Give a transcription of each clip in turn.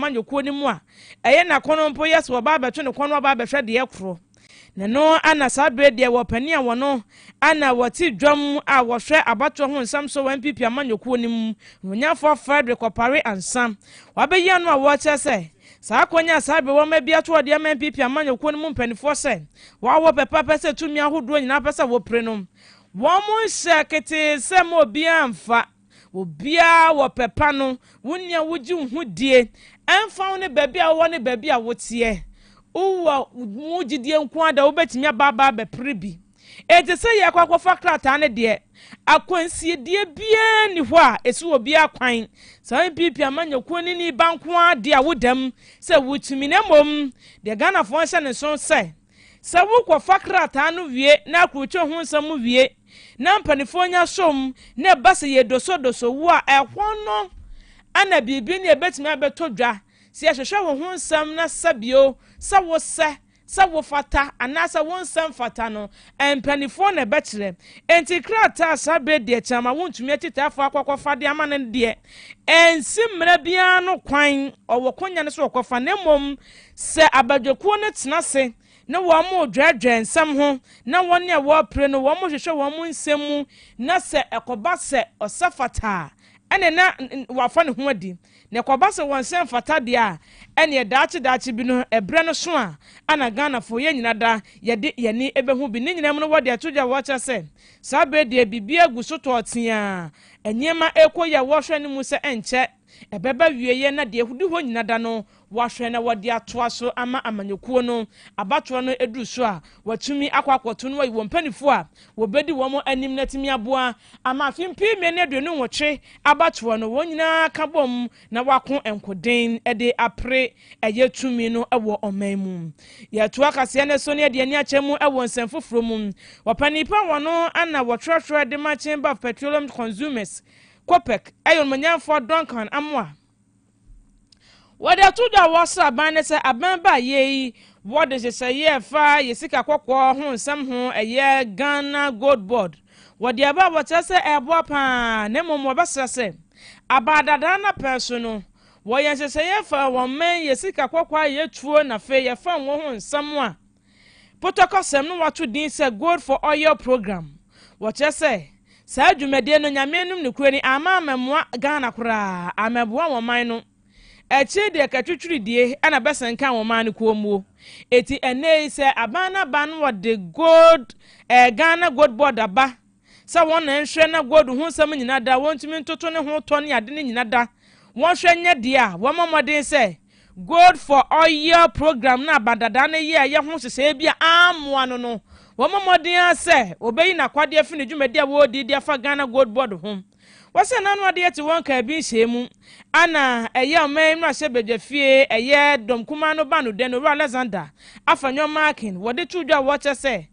amanyɔkuo no mu a ɛyɛ n'akɔnnɔ mpo yɛ sɛ wɔba abɛto ne kɔn na wɔaba abɛhwɛ deɛ ɛkorɔ ne no ana saa berɛ deɛ wɔ panin a wɔno ana wɔte dwam a wɔhwɛ abatoɔ ho nsɛm so wɔ npp amanyɔkuo no mu no onyafoɔ frederick ɔpare ansa wabɛyi ano a wɔkyerɛ sɛ saa akɔnya a saa berɛ wɔn abi ato ɔde ama npp amanyɔkuo no mu mpanimfoɔ sɛ wɔawɔ pɛpɛpɛ sɛ tumi ahodoɔ nyinaa pɛ sɛ wɔpire no wɔn nhyɛ ketee sɛ ma obiara mfa Wo biara wɔ pɛ pa no, wo nea wogye wo ho die, ɛmfa ho ne baabi a wowɔ ne baabi a woteɛ. Wowɔ mu gyidie nko ara dɛ wobɛtumi aba aba abɛpere bi. Enti sɛ yɛrekɔ akɔfa krataa no deɛ, akwansiedie biara nni hɔ a ɛsi obiara kwan. Saa NPP amanyɔkuo no nni ba nko ara deɛ a woda mu sɛ wotumi na mmom deɛ Ghanafoɔ nhyɛ ne nso sɛ, Sɛ wokɔfa krataa no wie na akorotwo ho nsɛm wie na mpanimfoɔ nya som na ɛba sɛ yɛredosodoso wo a, ɛhɔ no na biribi ne ɛbɛtumi abɛtɔ dwa sɛ yɛhwehwɛ wo ho nsɛm na sɛ bio sɛ wosɛ, sɛ wofata anaasɛ wonsɛ mfata no, mpanimfoɔ na ɛbɛkyerɛ. Enti krataa a saa berɛ deɛ kyɛ ama wontumi atitaafoɔ akɔkɔfa de ama no deɛ, ɛnsi mmara biara ano kwan, ɔwɔ konya no sɛ ɔkɔfa na mmom Sɛ abadwakuo no tena ase na wɔredwɛɛdwɛɛ nsɛm ho na wɔn a wɔrepere no wɔhwehwɛ wɔn nsɛm mu na sɛ ɛkɔba sɛ ɔsɛ fata a, ɛnneɛ na wafa ne ho adi. Na ɛkɔba sɛ wɔnsɛ mfata deɛ a, ɛnneɛ daakye daakye bi no, ɛberɛ no so a, ana Ghanafoɔ yɛn nyina da yɛde yɛn ani bɛhu bi? Ne nyinaa mu no, wɔde ato dwa a wɔkyerɛ sɛ saa berɛ deɛ biribiara gu so tɔɔ teaa, nneɛma rekɔ yie a wɔhwɛ no mu sɛ ɛnkyɛ Ɛbɛba awieeɛ na deɛ hodi hɔ nyina da no wɔahwɛ na wɔde atoa so ama amanyɔkuo no. Abatoɔ no duru so a, wɔatumi akɔ akɔto no ayi wɔn mpaninfoɔ a wɔbɛdi wɔn anim no atumi aboa ama afe mpem mmienu ne aduonu nwɔtwe abatoɔ no wɔn nyinaa ka bɔm na wɔako nkoden de apere ɛyɛ tumi no wɔ ɔman mu. Yɛto akaseɛ no so na yɛde ani akyɛ mu wɔ nsɛm foforɔ mu. Ɔpanin pa wɔn ano na wɔtwerɛtwerɛ de ma Chamber of Petroleum Consumers Kopek yɛ Ɔnumanyamfoɔ Duncan Amoah. Wɔde ato dwa a wɔsra aban no sɛ aban ba yei wɔde nhyehyɛeɛ a ɛfa yɛ sika kɔkɔɔ ho nsɛm ho ɛyɛ Ghana Gold Board wɔde aba a wɔkyerɛ sɛ ɛreboa pa ara na mmom wɔbɛsrɛ sɛ aban dadaa no apɛn so no wɔyɛ nhyehyɛeɛ fa wɔmmɛn yɛ sika kɔkɔɔ a yɛtuo na afei yɛfam wɔ ho nsɛm a Potɔkɔsɛm no wɔato din sɛ Gold for Oil Programme. Wɔkyerɛ sɛ, saa dwumadie no Nyame anom no kuro ni amma ammɛmoa Ghana koraa, ammɛboa wɔn man no. Akyire deɛ katwitwiridie na bɛsɛnkan wɔn man no koommuo. Enti ɛnnɛ yi sɛ aban no aban no wɔde gold, eh, Ghana Gold Board aba Sɛ wɔn na nhwɛ na gold ho nsɛm nyina da, wɔntumi ntoto ne ho tɔ ne ade no nyina da, wɔnhwɛ nyɛ deɛ a, wɔmmɔ mmɔden sɛ Gold for Oil program no a Badada no yɛɛ yɛ ho nhyehyɛeɛ bi a ammoa no no, wɔmmɔ mmɔden ara sɛ ɔbɛyi n'akwadeɛ afiri ne dwumadi a wɔredi de afa Ghana Gold Board ho. Wɔsɛ n'ano ade yɛte wɔn nkaa bi nhyiae mu a na ɛyɛ ɔman mmarahyɛ badwa fie ɛyɛ dɔm kumaa no ba no dɛ no Owura Alexander Afanyɔn Markin wɔde too dwa a wɔkyerɛ sɛ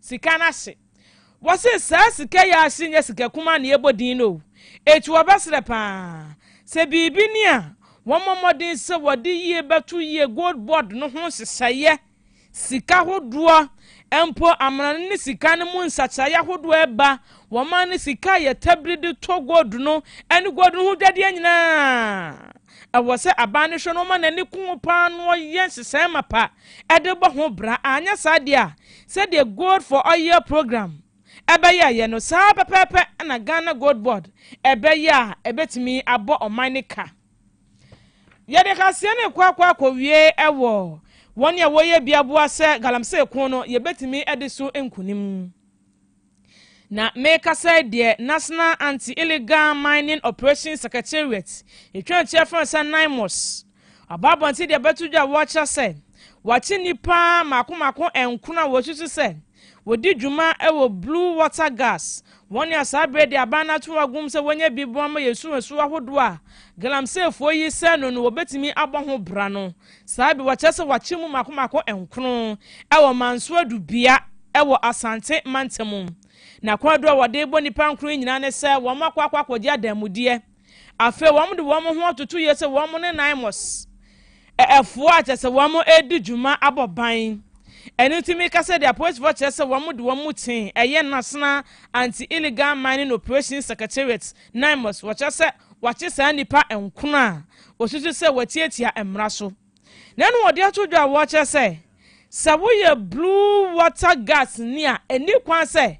Sika no ahye. Wɔse saa sika yi a ahye nyɛ sika kumaa na yɛbɔ din no o. Enti wɔbɛsrɛ pa ara sɛ biribi ni a, wɔmmɔ mmɔden sɛ wɔde yie bɛto yie Gold Board no ho nhyehyɛeɛ. Sika hodoɔ mpo amena no ne sika no mu nsakyeraeɛ ahodoɔ ɛba wɔ man no sika a yɛtabiri de tɔ gold no ne gold no ho dwadeɛ nyinaa a, ɛwɔ sɛ aban no hwɛ na ɔma n'ani ko ho pa ara na ɔyɛ nhyehyɛe mapa de bɔ ho bra. Anyɛ saa deɛ a, Sɛdeɛ Gold for Oil programme bɛyɛeɛ no, saa ara pɛpɛɛpɛ na Ghana Gold Board bɛyɛ a ɛbɛtumi abɔ ɔman no ka. Yɛde kaseɛ no rekɔ akɔ akɔwie wɔ wɔn a wɔyɛ biaboa sɛ galamsey ko no, yɛbɛtumi adi so nkunim. Na merekasa yi deɛ, National Anti-Illegal Mining Operations Secretariat, yɛtwa nkyerɛ frɛ no sɛ NIMOS, aba abɔnten de abɛto dwa a wɔkyerɛ sɛ wɔakye nnipa mmaako mmaako nkron a wɔsusu sɛ wɔdi dwuma wɔ Blue Water Gas, wɔn a saa berɛ de aban no ato wɔn agum sɛ wɔnyɛ bi boa ma yɛn nsuwansuwa ahodoɔ a galamseyfoɔ yi sɛe no no wɔbɛtumi abɔ ho bra no. Saa bere, wɔkyerɛ sɛ wɔakyere mu mmaako mmaako nkron wɔ Mansoura Dubia wɔ Asante mantam. Na kwaadu a wɔde rebɔ nnipa nkron yi nyinaa ne sɛ wɔakɔ akɔ akɔgye adanmudeɛ. Afei wɔde wɔn ho atoto yie sɛ wɔn ne Naimos ɛfoɔ a kyerɛ sɛ wɔredi dwuma abɔ ban. Ɛno nti meka sɛ deɛ apolisifoɔ kyerɛ sɛ wɔde wɔn mu tee ɛyɛ National Anti-Illegal Mining Operations Secretariat, Naimos, wɔkyerɛ sɛ wɔakye saa nnipa nkron a Osusu sɛ watiatia mmara so. Na ɛna ɔde ato dwa a wɔkyerɛ sɛ, sɛ woyɛ Blue Water Guards ni a, enni kwan sɛ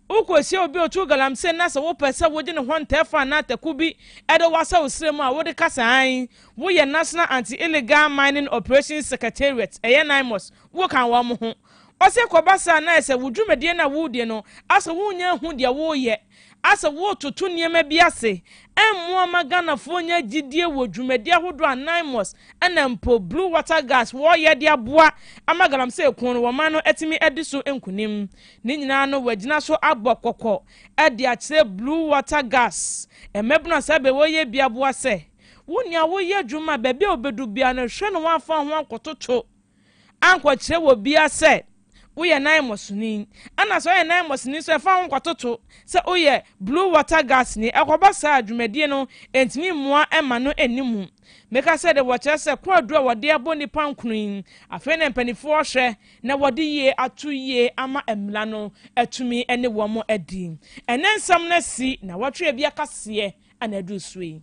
wokohyia obi a otu galamsey na sɛ wopɛ sɛ wogye ne ho ntɛfo anaa atako bi de wo asɛ wo srɛ mu a, wode ka sɛ aane, woyɛ National Anti-Illegal Mining Operations Secretariat, ɛyɛ NIMOS, woka wɔn ho. Ɔse kɔba saa na ayɛ sɛ wo dwumadie no a woredie no, asɛ wonnya nhu deɛ woreyɛ. Asɛ woretoto nneɛma bi ase mmoa mma Ghanafoɔ nnya gyidie wɔ dwumadie ahodoɔ a Nymos ɛna mpo Blue Water Gas wɔreyɛ de aboa ama Galamsey ko no wɔman no atumi adi so nkunim. Ne nyinaa no wɔagyina so abɔ kɔkɔ de akyerɛ Blue Water Gas mmabunu a saa bɛ wɔreyɛ bi aboa sɛ, Wo nea woreyɛ adwuma a baabi a wobɛdu biara no hwɛ na woamfa wo ho ankɔtoto ankɔkyerɛ wɔ bia sɛ woyɛ naɛmɔsoni ɛna sɛ ɔyɛ naɛmɔsoni nso ɛfa ho nkɔtoto sɛ woyɛ blue water gas ni ɛkɔba saa a dwumadie no ɛntumi mmoa ɛma no ɛnni mu meka sɛ de wɔkyerɛ sɛ kɔ aduru a wɔde abɔ nnipa nkunu yi afei na mpanifoɔ hwɛ na wɔde yie ato yie ama ɛmmra no atumi ɛne wɔn adi ɛnɛ nsɛm no asi na wɔtwe ɛbi akaseɛ ana aduru so yi.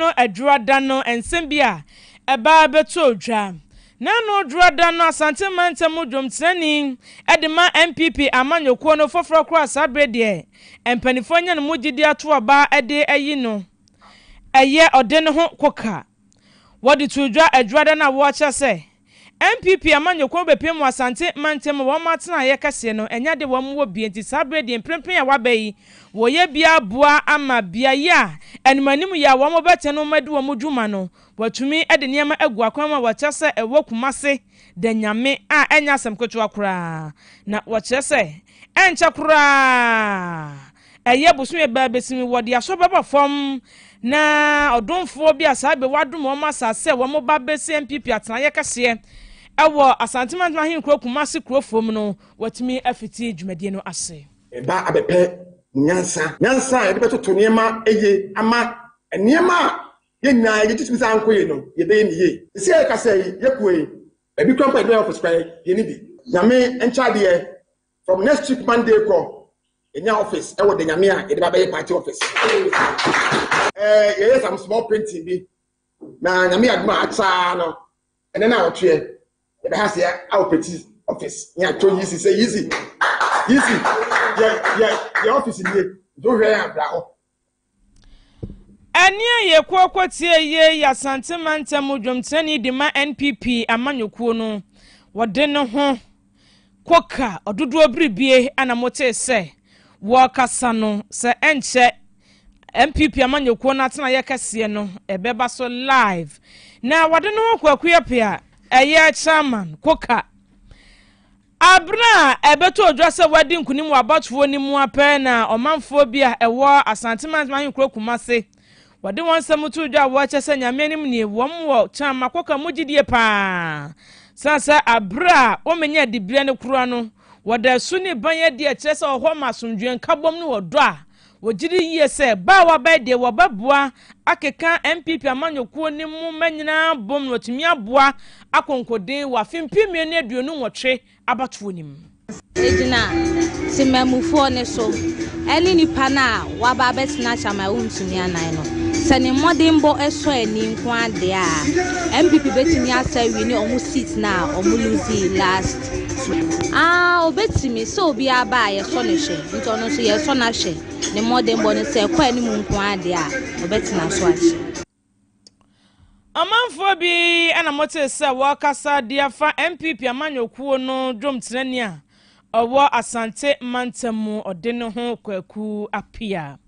no Adwoada no nsɛm bi a ɛbaa bɛtɔɔ dwa. Na ɛno Adwoada no Asante mantam mu dwomtenani de ma NPP amanyɔkuo no foforɔ koraa saa berɛ deɛ mpaninfoɔ anya no mu gyidie ato aba de ayi no ɛyɛ ɔde no ho koka wɔde too dwa Adwoada no a wɔkyɛ sɛ NPP amanyɔkuo bɛpue mu Asante mantam wɔn atenaeɛ kɛseɛ no ɛnyɛ ade wɔn wɔ bie nti saa berɛ deɛ mprempren a wɔaba yi wɔyɛ bia aboa ama beaeɛ a animanim yɛ a wɔn bɛtɛn wɔn adi wɔn dwuma no wɔatumi de nneɛma agu akwan mu a wɔkyerɛ sɛ ɛwɔ Kumase da nyame a ɛnyɛ asɛm ketewa koraa na wɔkyerɛ sɛ ɛnkyɛ koraa Ɛyɛ bosome bɛɛ bɛsi mu wɔde asɔ bɛba fam na ɔdomfoɔ bi a saa bɛ wɔadom wɔn asase sɛ wɔn ba bɛsi MPP atenaeɛ kɛseɛ ɛwɔ Asante Mantam Ahenkuro Kumasi Kurofo mu no watumi afiti dwumadie no ase. Ɛba abɛpɛ mo nyansa, nyansa a yɛde bɛtoto nneɛma yie ama nneɛma a yɛn nyinaa yɛgye tom sɛ ankɔ yie no yɛbɛyɛ no yie. Seesei a yɛkasa yi, yɛpue, baabi koraa mpo a yɛde bɛyɛ office koraa yɛnni bi. Nyame nkyɛ adeɛ, From next week Monday kɔ, yɛnya office ɛwɔ de nyame a yɛde ba bɛyɛ party office. Ɛɛ yɛyɛ some small painting bi na nyame adum a akyaa no ɛnɛ na ɔtweɛ yɛbɛ ha se awo peti office yɛn atɔ yi si sɛ yi si yi si yɛ yɛ yɛ office nie nti wohwɛ yɛn abira hɔ. Ɛnne a yɛkɔ kɔ tie yie yɛ Asante mantam mu dwomkyerɛni de ma NPP amanyɔkuo no. Wɔde ne ho kɔ ka ɔdodoɔ biribie a na motee sɛ wɔrekasa no sɛ ɛnkyɛ NPP amanyɔkuo no atenaeɛ kɛseɛ no ɛbɛba so live. Na wɔde ne ho kɔ Akuapea ɛyɛ chairman kɔ ka Aber a ɛbɛtɔɔ dwa sɛ wɔadi nkunim wɔ abatoɔ no mu ara pɛ na ɔmanfoɔ bi a ɛwɔ Asante Mantam Ahenkuro Kumase wɔde wɔn nsɛm too dwa a wɔkyɛ sɛ Nyame anim nie wɔn wɔ Kyama Kɔka mu gyidie paa sane sɛ aber a wɔmɛnya dibrɛ no kora no wɔda asu ne ban adi ɛkyerɛ sɛ ɔhɔ ma asomdwoeɛ nkabom ne ɔdɔ a Wogye di yie sɛ baawa bɛyɛ deɛ wɔbɛboa akeka NPP amanyɔkuo no mu mma nyinaa bom na watumi aboa akonkoden wɔ afe mpem mmienu ne aduonu nwɔtwe abatoɔ no mu. Ɛgyina Temanmufoɔ no so ɛne nipa no a waba abɛtena Chairman Awontumi Anan no. Sɛ ne mmɔdenbɔ sɔ ani nko ara deɛ a, NPP bɛtumi asa awi ne wɔn seat no a wɔ'losee last. Aa obetumi, sɛ obi aba a yɛsɔ no hwɛ, nti ɔno nso yɛsɔ no ahwɛ, ne mmɔdenbɔ no sɛ ɛkɔ anim nko ara deɛ a, ɔbɛtena so akyɛ. Ɔmanfoɔ bi na motee sɛ wɔrekasa de afa NPP amanyɔkuo no dwomtenani a ɔwɔ Asante mantam mu ɔde no ho Kwaku Appiah.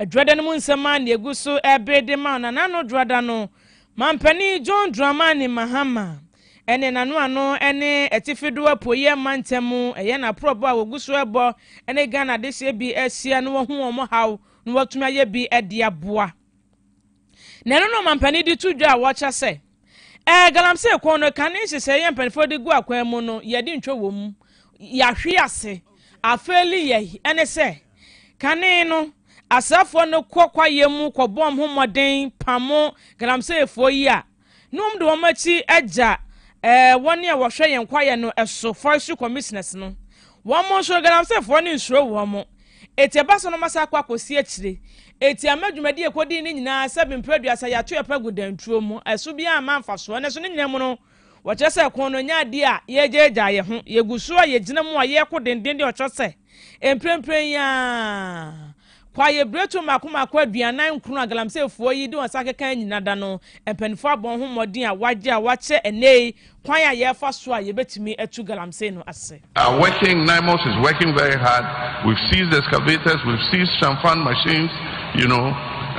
Dwoada no mu nsɛm ara na ɛgu so rebere de ma no, na n'ano dwoada no Mampanin John Dramani Mahama ne n'anoano ne Atifi do Apuei Mantam yɛ n'aporɔbɔ a wogu so rebɔ ne Ghana adehyeɛ bi ahyia na wɔahu wɔn haw na wɔatumi ayɛ bi de aboa. Na ɛno na ɔmampanin de to dwa a wɔkyɛ sɛ, Ɛɛ, galamsey kɔn no, kane nhyehyɛeɛ a mpanimfoɔ de gu akwan mu no, yɛde ntwa wɔ mu, yɛahwe ase, afeeli yɛn, ɛne sɛ, Kane no, asraafoɔ no kɔ kwaeɛ mu kɔbɔ wɔn ho mmɔden pamo galamseyfoɔ yi a na wɔde wɔn akyi agya eh, wɔn a wɔhwɛ yɛn kwaeɛ no so forestry commissioners no. Wɔn nso galamseyfoɔ no nsuro wɔn. Eti ɛba sɛ wɔn asa akɔ akɔsi akyire. Eti ama dwumadi a ɛkɔdii no nyinaa sɛ bempere aduasa yɛato yɛ pɛ gu dantuo mu. Ɛso biara amma mfasoɔ. Nanso ne nyinaa mu no, wɔkyerɛ sɛ ko no nyɛ adeɛ a yɛgyaagyaa yɛn ho. Yɛgu so a yɛgyina mu a yɛko denden de ɔkyerɛ sɛ, Mprempren yi ara, kwaye biretuo mmaako mmaako aduanan nkron a galamseyfoɔ yi de wɔn nsa akeka anyina da no, mpanimfoɔ abɔ ho mmɔden a wɔagye a wɔakyerɛ ɛnnɛyi kwan a yɛfa so a yɛbɛtumi atu galamsey no ase. Are working, NIMOS is working very hard, we've seized excavators, we've seized shamfan machines, you know,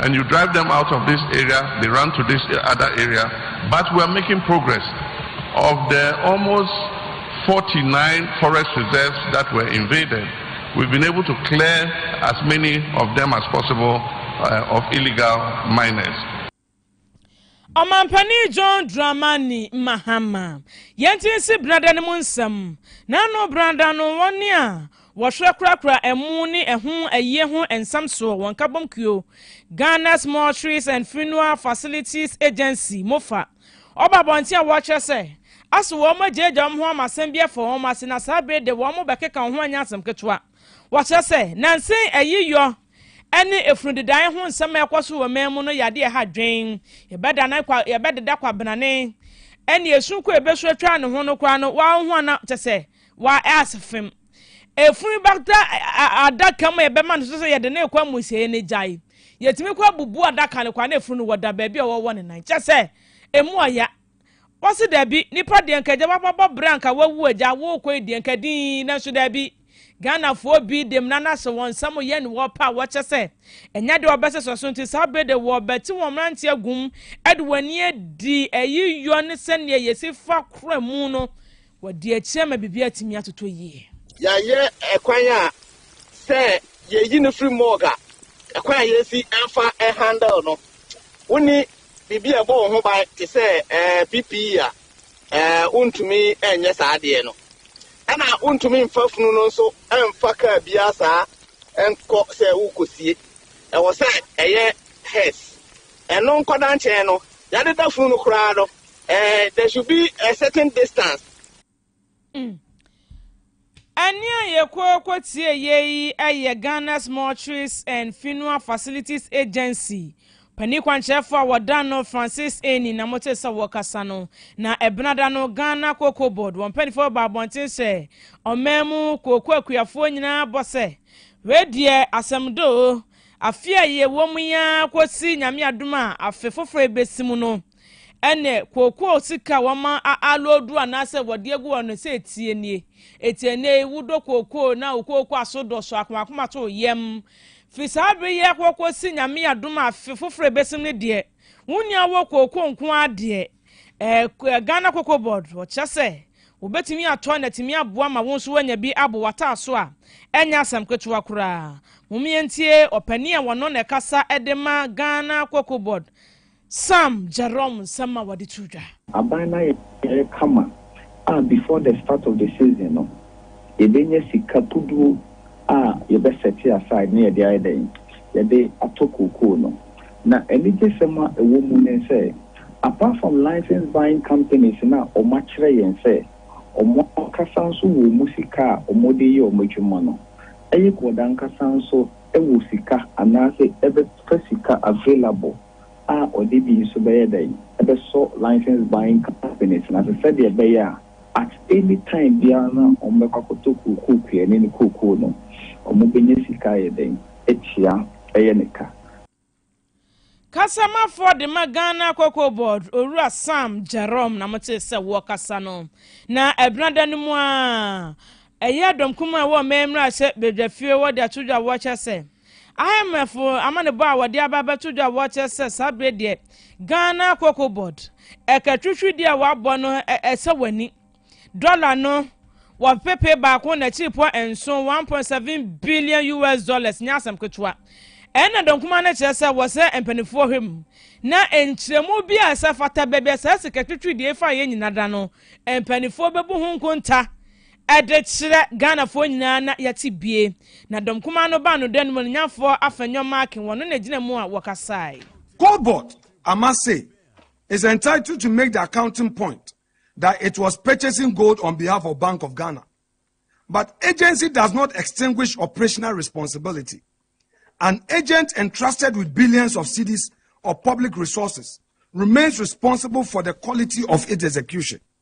and you drive them out of this area, they run to this other area, but we're making progress. Of the almost forty nine forest reserves that were invaded, we've been able to clear as many of them as possible uh, of illegal miners. ɔmampanin john dramani mahama yɛnti si brada no mu nsɛm n'ano brada no wɔne a wɔhwɛ korakora ɛmo ne ɛho ayie ho nsɛm soɔ wɔn kabom kuo ghana's mortuaries and funeral facilities agency mofa Wɔba abɔnten a wɔkyerɛ sɛ ase wɔn agyaagyaa wɔn ho ama asɛm bi afa wɔn ase na saa bere de wɔn bɛkeka wɔn ho anyɛ asɛm ketewa. Wɔkyerɛ sɛ nnansa yi ayiyɔ ne efunu dedae ho nsɛm a ɛkɔ so wɔ man mu no yɛ ade a ɛha adwene. Yɛbɛdeda kwabenane ne esu ko a ebesu atwa ne ho no koraa no, wɔahoa na kyerɛ sɛ wɔaɛ ase fem. Efunu bɛda adaka mu a yɛbɛma no so sɛ yɛde no rekɔ amusieyɛ no agyae. Yɛtumi kɔ abubu adaka no kwa na efunu no wɔda baabi a wɔwɔ ne nan. Kyɛ sɛ, emu ɔya. Wɔse dabi, nipa deɛ nka agya wababɔ berɛ a nka wawu agya, worekɔ yi deɛ nka dinn, nanso dabi. Ghanafoɔ bi de mmara no ahyɛ wɔn nsa mu yɛ ne wɔpɛ a wɔkyɛ sɛ ɛnyɛ deɛ wɔbɛsesa so nti saa bere de wɔbɛte wɔn mmerante agum de wɔn ani adi ayiyɔ ne sɛdeɛ yɛsi fa kora mu no Wɔadi akyire ama biribi atumi atotɔ yie. Yɛayɛ ɛkwan a sɛ yɛyi no firi morgue a, ɛkwan a yɛsi fa handle no. Wonni biribi a ɛbɔ wo ho ban te sɛ PPE a, wontumi nyɛ saa adeɛ no. Ɛna wontumi mfa funu no nso mfa kaa biara saa nkɔ sɛ worekɔsie. Ɛwɔ sɛ ɛyɛ hearse. Ɛno nkɔda nkyɛn no, yɛadeda funu no koraa no, Eh, there should be a certain distance. Mm. Ɛne a yɛkɔkɔ tie yei yɛ Ghana's Mortuaries and Funeral Facilities Agency panin kwankyerɛfoɔ a wɔda no Francis Eni na mote sɛ wɔkasa no na ɛbenada no Ghana Cocoa Board wɔn mpanimfoɔ ba abɔnten sɛ ɔman mu kooko akuafoɔ nyinaa bɔ sɛ wei deɛ asɛm doo afe a yɛwɔ mu yi ara kɔsi nyame adom a afe foforɔ bɛsi mu no Ɛnneɛ, kookoo sika a wɔma a aloodu anaasɛ wɔde agu hɔ no, sɛ etie nie, etie nnɛ yi, wodɔ kookoo na wo kookoo aso dɔ so, akomakoma to wo yam. Firi saa bere yi rekɔ kɔsi Nyame adom a afe foforɔ a ɛbɛsim no deɛ, wo nua wɔ kookoo nko ara deɛ, ɛɛ, Ghana Cocoa Board, wɔkyerɛ sɛ wobɛtumi atɔ na atumi aboa ma wo nso woanya bi abɔ w'ataaso a, ɛnyɛ asɛm ketewa koraa. Mom yɛntie ɔpanin a wɔno na ɛkasa de ma Ghana Cocoa Board, Sam Jerome nsɛm a wɔde to dwa. Aban no ayɛ pɛɛ kama a before the start of the season no yɛbɛnya sika puduo a yɛbɛ sɛte aside na yɛde ayɛ dɛn? Yɛde atɔ kookoo no. Na anigyesɛm a ɛwɔ mu ne sɛ apart from license buying companies no a wɔn akyerɛ yɛn sɛ wɔn ankasa nso wɔ wɔn sika a wɔn de yɛ wɔn adwuma no, Ayicword ankasa nso wɔ sika anaasɛ ɛbɛfa sika available. a ɔde bi nso bɛyɛ dɛn bɛsɔ licensed buying companies no ase sɛdeɛ ɛbɛyɛ a at any time biara no a wɔbɛkɔ akɔtɔ kookoo kuani no kookoo no wɔbɛnya sika ayɛ dɛn atua ɛyɛ ne ka. Kasamafoɔ de ma Ghana Cocoa Board Owura Sam Jerome na motee sɛ wɔrekasa no. Na ɛbenada no mu ara, ɛyɛɛ dɔm kumaa a ɛwɔ Ɔman Mmarahyɛ Badwafie hɔ de ato dwa a wɔkyerɛ sɛ, Ahemfo amanebɔ a wɔde aba abɛto dwa wɔ hɔ kyerɛ sɛ saa bere deɛ Ghana Cocoa Board, ɛka twitwidi a wɔabɔ no ɛsɛ w'ani. Dɔla no wɔ pepe baako na akyiripɔ nson, 1.7 billion US dollars, nyɛ asɛm ketewa. Ɛno na dɔnkuma no kyerɛ sɛ wɔsɛ mpanimfoɔ hwɛ mu na nkyerɛmu bi a ɛsɛ fata baabi a saa sika twitwidi yi fa yɛ nyinada no, mpanimfoɔ bɛbu ho nkonta Ɛde kyerɛ Ghanafoɔ nyinaa na yɛte bie. Na dɔm kumaa no baa no dan mu, animuonyamfoɔ Afenyo Markin, wɔn no na ɛgyina mu a wɔkasae. Core Board ama say is entitled to make the accounting point that it was purchasing gold on behalf of Bank of Ghana but agency does not extinguish operational responsibility. An agent entrusted with billions of cedis of public resources remains responsible for the quality of its execution.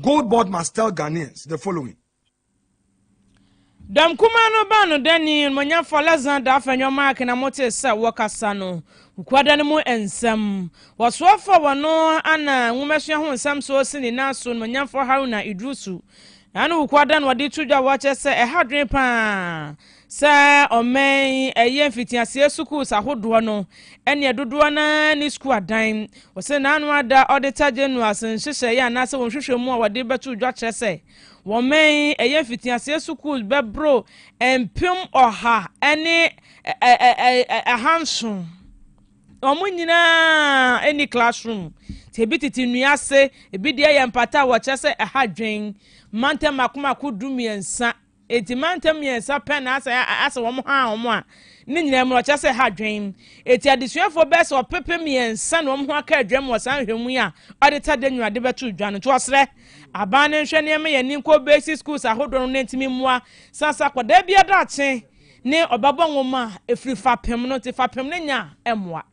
Goldbord must tell Ghanaians the following. Dɛm kumaa no baa no dɛ ne enyimonyamfo Alexander Afenyo Mark na motsee sɛ wɔkasa no Kukwada no mu nsɛm. Wɔsoa faa wɔno ana nwomasua ho nsɛm so osi ne nan so Enyimonyamfo Haruna Idrusu. Ɛha no Kukwada na ɔde to dwa a wɔkyerɛ sɛ ɛha adwene paa Sɛ ɔman yi ɛyɛ mfitiaseɛ sukuus ahodoɔ no ɛneɛ dodoɔ no ara ne sukuu adan. Ɔse n'ano ada Auditor General's nhyehyɛeɛ anaasɛ wɔn nhwehwɛmu a wɔde bɛto dwa kyerɛ sɛ wɔ man yi ɛyɛ mfitiaseɛ sukuus bɛboro mpem ɔha ne ahanson. Wɔn nyinaa ɛni classroom. Nti ebi tete nnua ase, ebi deɛ yɛ mpata a wɔkyerɛ sɛ ɛha dwen. Mantam mako mako du mmiɛnsa Enti mantam mmiɛnsa pɛ na asɛ asɛ wɔn haa wɔn a ne nyinaa mu ɔkyerɛ sɛ ha dwen. Eti adesuafoɔ bɛyɛ sɛ ɔpepe mmiɛnsa na wɔn ho aka adwam wɔ saa nhwɛmu yi a ɔde ta de nnuade bɛto dwa no. Nti ɔsrɛ aban no nhwɛ nneɛma yɛn ani nkɔ basic schools ahodoɔ no na ntumi mmoa sasa akwadaa bi adakye ne ɔbabɔ nwoma a ɛfiri fapem no nti fapem no nya mmoa.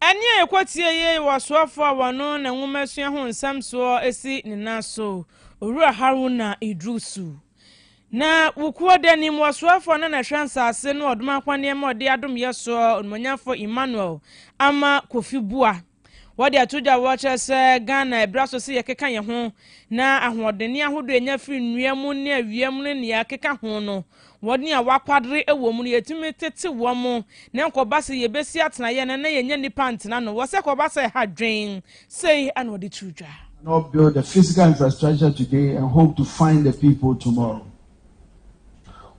Ɛnne a yɛkɔtiee yi wɔ soafo a wɔno na nwomasua ho nsɛm soɔ si ne nan so, Owura Haruna Iddrisu. Na Wukuo da nim wɔ soafo a na na ɛhwɛ nsase no ɔdom akwanneɛma ɔde adomyɛ soɔ, Onumonyafo Emmanuel Ama Kofi Buah. Wɔde ato dwa a wɔkyerɛ sɛ Ghana ɛberɛ aso sɛ yɛkeka yɛn ho na ahoɔdenne ahodoɔ a yɛnya firi nnua mu ne awia mu ne nea ɛkeka ho no, wɔn a wɔakwadere wɔ mu no, yɛtumi tete wɔn na ɛnkɔba sɛ yɛbɛsi atenaeɛ no na yɛnya nnipa ntena no wɔ sɛ ɛkɔba sɛ ɛha dwen. Sei na wɔde too dwa. not build the physical infrastructure today and hope to find the people tomorrow.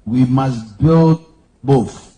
We must build both.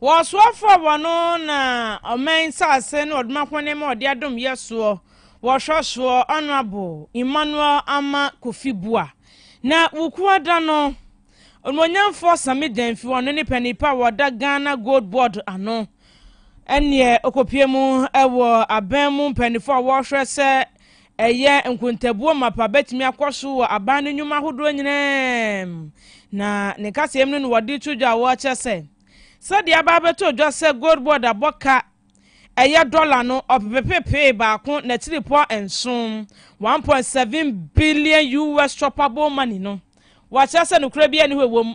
Wɔsoa frɛ wɔ no na ɔman saase na ɔdoma hɔne ma ɔde adom yɛ soɔ wɔhwɛ soɔ Honourable Emmanuel Ama Kofi Bua na wukua da no Onuonyamfoɔ Same Gyamfi ɔno ne panipa a wɔda Ghana Gold Board ano ɛneɛ ɔkɔpie mu ɛwɔ aban mu mpanifoɔ a wɔhwɛ sɛ Ɛyɛ nkontabuo mapa bɛtumi akɔ so wɔ aban no nnwuma ahodoɔ nyinaa mu, na ne kasamu no na wɔde to dwa a wɔkyerɛ sɛ sɛdeɛ aba abɛtɔ dwa sɛ Gold Board abɔ ka ɛyɛ dɔla no ɔpepepepee baako n'akyiripɔ nson, 1.7 billion US shoppable money, no, wɔkyerɛ sɛ nokorɛ biara nni hɔ a ɛwɔ mu.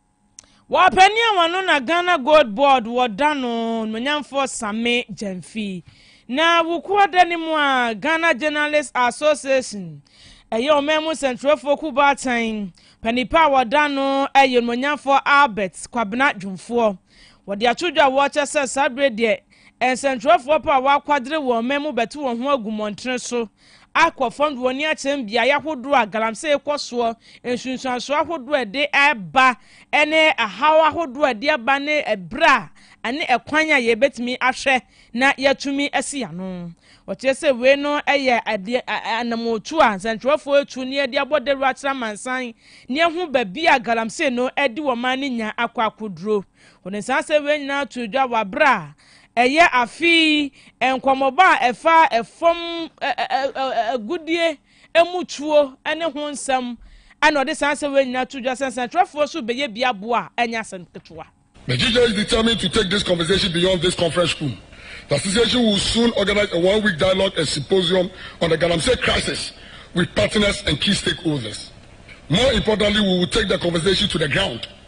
Wɔpanyin a wɔno na Ghana Gold Board wɔ da no, Nmanyamfoɔ Same Gyamfi. Na Wukuo da no mu a, Ghana Journalists Association, ɛyɛ ɔman mu sɛnkyerɛwfoɔ kuo baatan, panipa a wɔda no yɛ Nmanyamfoɔ Albert Kwabena Dwomfoɔ. Wɔde ato dwa a wɔkyɛ sɛ saa bere deɛ, nsɛnkyerɛwfoɔ pɛ a wɔakwadere wɔ ɔman mu bɛto wɔn ho agu mmɔntene so akɔ fam de wɔn ani akyerɛ mbeae ahodoɔ a galamsey rekɔ soɔ, nsunsuansoɔ ahodoɔ a ɛde reba ne haw ahodoɔ a ɛde aba ne ɛberɛ a ne ɛkwan a yɛbɛtumi ahwɛ na yɛatumi asi ano. Wɔkyerɛ sɛ wei no yɛ adeɛ a anammɔntu a nsɛntwerɛfoɔ retu na yɛde abɔ dawuro akyerɛ amansan na yɛahu baabi a galamsey no adi wɔn man no nya akɔ akɔduro. Wɔde saa asɛm wei nyinaa too dwa wɔ bere a ɛyɛ afe yi nkɔmmɔbɔ a ɛfa fam agudeɛ mu tuo ne ho nsɛm na ɔde saa asɛm wei nyinaa too dwa sɛ nsɛnkyerɛfoɔ so bɛyɛ bi aboa a ɛnyɛ asɛm ketewa. The GJS determined to take this conversation beyond this conference room. The association will soon organize a one-week dialogue and symposium on the Galamsey crisis with partners and key stakeholders. More importantly, we will take the conversation to the ground.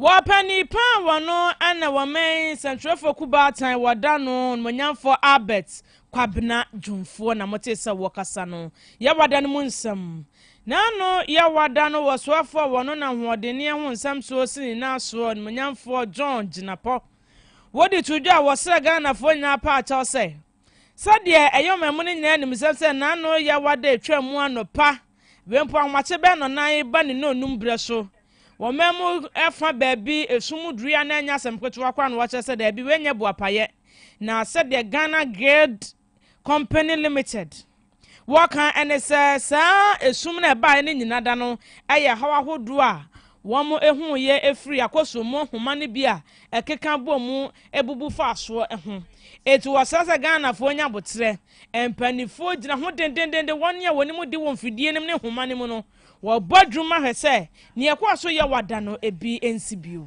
Wɔpɛ ne paa wɔ no na wɔmɛn sɛnkyerɛfoɔ ku baatan wɔda no nomonyamfoɔ Albert Kwabena Dwomfoɔ na motee sɛ wɔkasa no Yawada no mu nsɛm. Na no Yawada no wɔ soafoɔ wɔ no na hoɔdenneɛ ho nsɛm soɔ si ne nan soɔ nomonyamfoɔ John Jinapɔ. Wode to dwa a wɔsrɛ Ghanafoɔ nyinaa paa kyɛw sɛ. Sɛdeɛ ɛyɛ ɔmamu no nyinaa nim sɛ sɛ n'ano reyɛ awa da atwa mu anɔpa, wempo ahomakye bɛn na ɔnan reba ne nnɔnnum berɛ so. Wɔ ɔmamu fa baabi esum mu duru yi a na ɛnyɛ asɛm ketewa koraa na wɔkyerɛ sɛ daabi wei nyɛ boapayɛ. Na sɛdeɛ Ghana Guild Company Limited, Wɔka ne sɛ saa esum no a ɛbaeɛ no nyina da no yɛ haw ahodoɔ a wɔhuiɛ firi Akɔsum mu nhoma no bi a ɛkeka bɔ mu bubu faa soɔ ho. Enti wɔsrɛ sɛ Ghanafoɔ nya aboterɛ. Mpaninfoɔ gyina ho dendendenden, wɔn a wɔnim de wɔ mfidie no mu ne nhoma no mu no, wɔbɔ adwuma hwɛ sɛ nea ɛkɔɔ so yɛ wɔ da no bi nsi bio.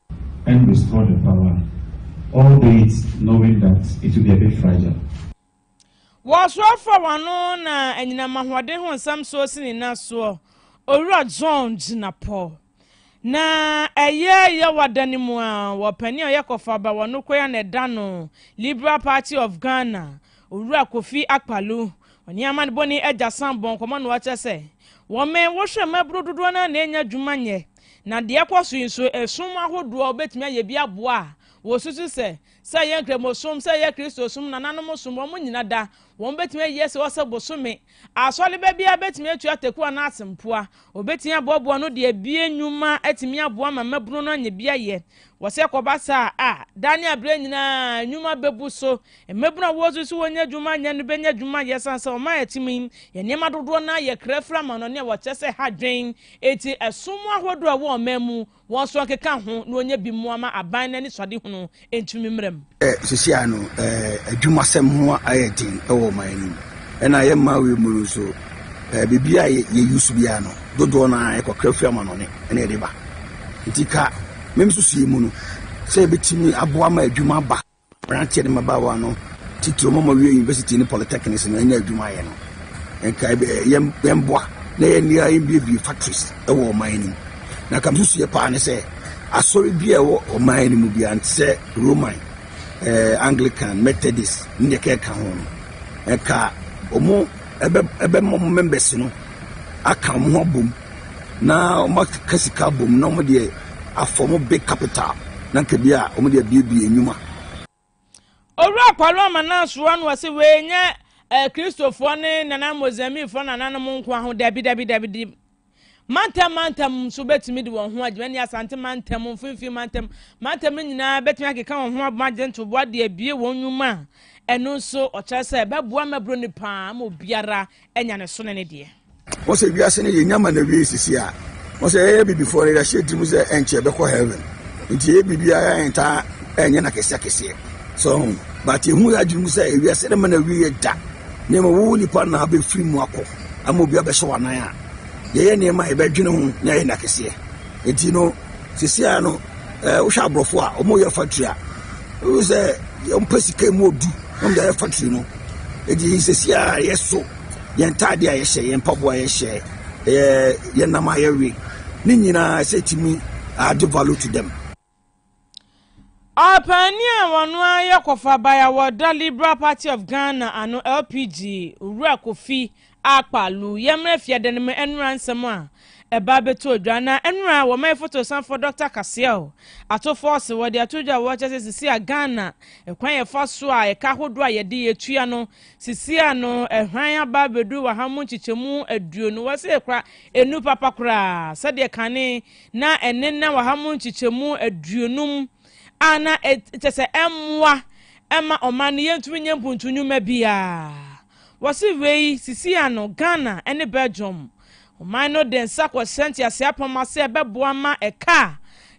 and restore the power, albeit knowing that it will be a bit fragile. Wɔsoa afra wɔn ano na anyinam ahoɔden ho nsɛm soɔ si ne nan soɔ. Owura John gyina pɔ. Na ɛyɛ Yawa da no mu a wɔpanin a ɔyɛ kɔfaba wɔ Nokorɛ a na ɛda no Liberal Party of Ghana, Owura Kofi Akpalu, ɔne amanebɔni Agya Sam bɔɔ nkɔmmɔ na ɔkyerɛ sɛ wɔmɛn wohwɛ mmabunu dodoɔ no ara na ɛnya adwuma nyɛ. Na deɛ ɛkɔ so yi nso, ɛsom ahodoɔ a wobɛtumi ayɛ bi aboa a wɔsusu sɛ, sɛ ɛyɛ Nkramosom, sɛ ɛyɛ Kristosom, nananom som, wɔn nyina da, wɔn bɛtumi ayɛ sɛ ɔsɛ bosome. Asɔreba biara bɛtumi atua ataku anaa asɛmpoa. Wɔbɛtumi aboaboa ano de abue nnwuma atumi aboa ma mmabunu no anya bi ayɛ. Wɔ sɛ ɛkɔba saa a, daa ne aberɛ nyinaa nnwuma bɛbu so. Mmabunu a wɔsu sɛ wɔnnya adwuma nyɛ no bɛnya adwuma ayɛ ɛsiane sɛ ɔman a yɛte mu yi yɛ nneɛma dodoɔ no ara yɛ kra firi amanɔne a wɔkyerɛ sɛ ɛha adwene enti ɛso mu ahodoɔ a ɛwɔ ɔman mu wɔn nso nkeka ho na wɔnya bi mmoa ma aban no anisoadehunu ntumi mmra mu. Sisi a no adwumasɛm ho ayɛ den wɔ ɔman no mu. Ɛna yɛ Maui mu no nso, biribi a yɛ use biara no, dodoɔ no ara yɛkɔ kra firi amanɔne na yɛde ba. Nti ka me nsusuiɛ mu no, sɛ yɛbɛtumi aboa ma adwuma ba mmeranteɛ ne mmabaawa no titire ma wɔwie university ne polytechnics no anya adwuma ayɛ no, nka yɛmmoa na yɛnea yɛmbiebie factories wɔ ɔman no mu. Na ka me nsusuiɛ paa ne sɛ, asɔre biara ɛwɔ ɔman no mu biara, nte sɛ. Roman, Anglican, Methodist ne deɛ ɛkeka ɛkeka ho no. Ɛka wɔn bɛ wɔn members no aka wɔn ho abom na wɔn aka sika abom na wɔn deɛ afɔ wɔn big capital na nka bi a wɔn deɛ abiebie nnwuma. Owura Paulo Amanaa soa no ɔse wei nyɛ Kristofoɔ ne nana Mozambiquefoɔ nananom nkoa ho dabi dabi dabi dabi. Mantam mantam nso betumi de wɔn ho agyim. Ɛne Asante mantam, Mfinfin mantam, mantam no nyinaa betumi akeka wɔn ho abom agye ntoboa de abue wɔn nnwuma a ɛno nso ɔkyerɛ sɛ ɛbɛboa mmɛboro no paa ma obiara anya ne so ne ne deɛ. Wɔn sɛ wiase no yɛnya ma na wie sisi a wɔn sɛ yɛyɛ bibifoɔ no yɛahyɛ tirim sɛ ɛnkyɛ bɛkɔ heaven nti yɛyɛ biribiara ɛntaa ɛnyɛ na kɛseɛ kɛseɛ so but ɛhu yɛ adwene mu sɛ wiase no ma na wie yɛ da nneɛma wo nipa na abɛfiri mu akɔ ama obi abɛhyɛ wo anan a, yɛyɛ nneɛma a yɛbɛdwene ho na yɛyɛ no akɛseɛ. Enti no, sesia no, eh, wohwɛ aborɔfo a wɔyɛ factory a, wohu sɛ wɔmpɛ sika mu odu na wɔde ayɛ factory no. Enti sesia a yɛso yɛn ntaade a yɛhyɛ, yɛn mpaboa a yɛhyɛ, eh, yɛn nam a yɛwe, ne nyinaa sɛ ɛtumi ade value to them. Ɔpaani a ɔno ara yɛ kɔfraba a wɔda Liberal Party of Ghana ano, LPG, Owura Kofi Akpah Lu yɛ mmra fiada no mu ɛnora nsɛm a ɛba abɛto odwa. Na ɛnora wɔ ma yɛfotosanfoɔ Dɔkta Kaseɛo ato fɔɔse wɔde ato dwa a wɔkyɛ sɛ sisi a Ghana ɛkwan a yɛfa so a ɛka ahodoɔ a yɛde yɛ tua no sisi a no ɛhwan aba abɛduru wɔ ha mu nkyekyɛmu aduonu wɔ sɛ ɛkora ɛnu papa koraa sɛdeɛ kane na ɛne na waha mu nkyekyɛmu aduonum a na kyɛ sɛ ɛmmoa ɛma ɔman no yɛntumi nyɛ mpuntu nnwuma biara. Wɔse wei sisi ano Ghana ne Belgium ɔman no de nsa kɔhyɛ ntease apam ase a ɛbɛboa ma ɛka a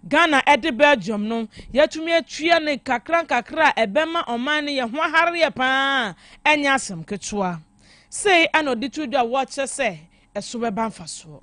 Ghana ɛde Belgium no yɛatumi atua no nkakra nkakra a ɛbɛma ɔman no yɛ ho ahareɛ paa a ɛnyɛ asɛm ketewa. Sei na ɔde to dwa a wɔkyerɛ sɛ ɛso bɛba mfasoɔ.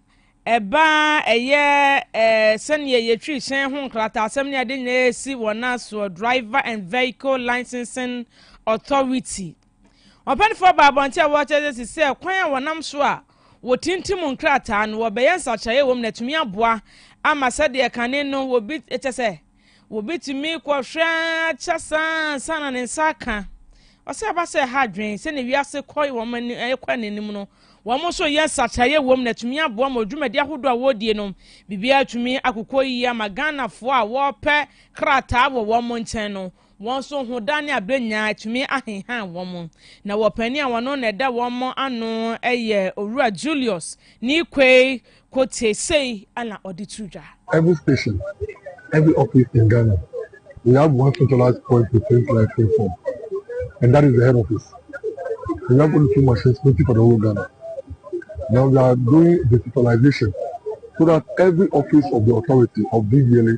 ɛba ara ɛyɛ eh, sɛnea yɛtwi hyɛn ho nkrataasɛm ne ade nyinaa esi wɔn asoɔ Driver and Vehicle Licensing Authority. Ɔpɛnifoɔ baa abɔnten a wɔkyerɛ sɛ sɛ kwan a wɔnam so a wɔtintim nkrataa no wɔbɛyɛ nsakyeraeɛ wɔ mu na atumi aboa ama sɛdeɛ kane no wɔbi kyɛ sɛ Wobetumi kɔhwɛ ara kyɛ saa ansa na ne nsa aka. Ɔsɛ ɛba sɛ ɛha adwene. Sɛnea wiase kɔ wɔn ani ɛkɔ anim no, wɔn nso yɛ nsakyeraeɛ wom na atumi aboa ma dwumadi ahodoɔ a wɔredie no biribiara atumi akokɔ yie ama Ghanafoɔ a wɔrepɛ krataa wɔ wɔn nkyɛn no. Wɔn so ho da ne abere nyinaa atumi ahenhan wɔn, na wɔpanin a ɔno na ɛda wɔn ano yɛ Owura Julius Nikwei Kotse sei na ɔde to dwa. Every station, every office in Ghana, we have one centralized point to print life inform and that is the head office. We have only two machines printing for the whole Ghana. Now we are doing digitalization so that every office of the authority of DVLA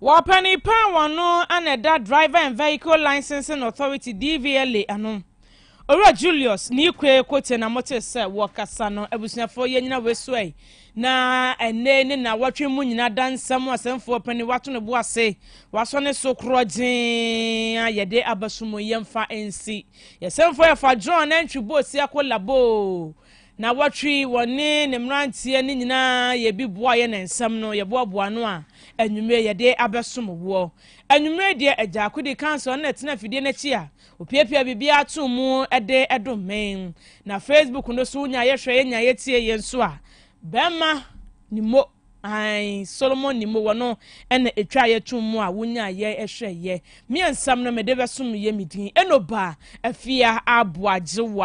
Wɔpɛnee paa wɔn no a na ɛda Driver and Vehicle Licensing Authority, DVLA, ano. Owura Julius ne Ikwe Kotse na motee sɛ wɔkasa no. Abusuafoɔ, yɛn nyina wɔasuae, na ɛnnɛ ne nnawɔtwe mu nyina da nsɛm mu asɛmfoɔ panin wato ne bo ase, wasɔ ne so korɔgyee a yɛde aba so mu yɛmfa nsi. Yɛsɛmfoɔ yɛfa John Antwi Bosia Kolaboo. Nnawɔtwe yi wɔne ne mmeranteɛ no nyinaa yɛ bi boa yɛ ne nsɛm no yɛboaboa ano a anwummere yɛde abɛsom woɔ. Anwummere deɛ Agyaako di kan sɔre na tena afidie no akyi a ɔpiapia biribiara to mu de dom me. Na Facebook no so wonya yɛ hwɛ yɛ nya yɛ tie yɛ nso a bɛrima Nimo ae Solomon Nimo wɔ no na ɛtwa yɛ to mu a wonya yɛ hwɛ yɛ. Me nsɛm no mede bɛsom yɛ me din Enoba Afia Aboagyewa.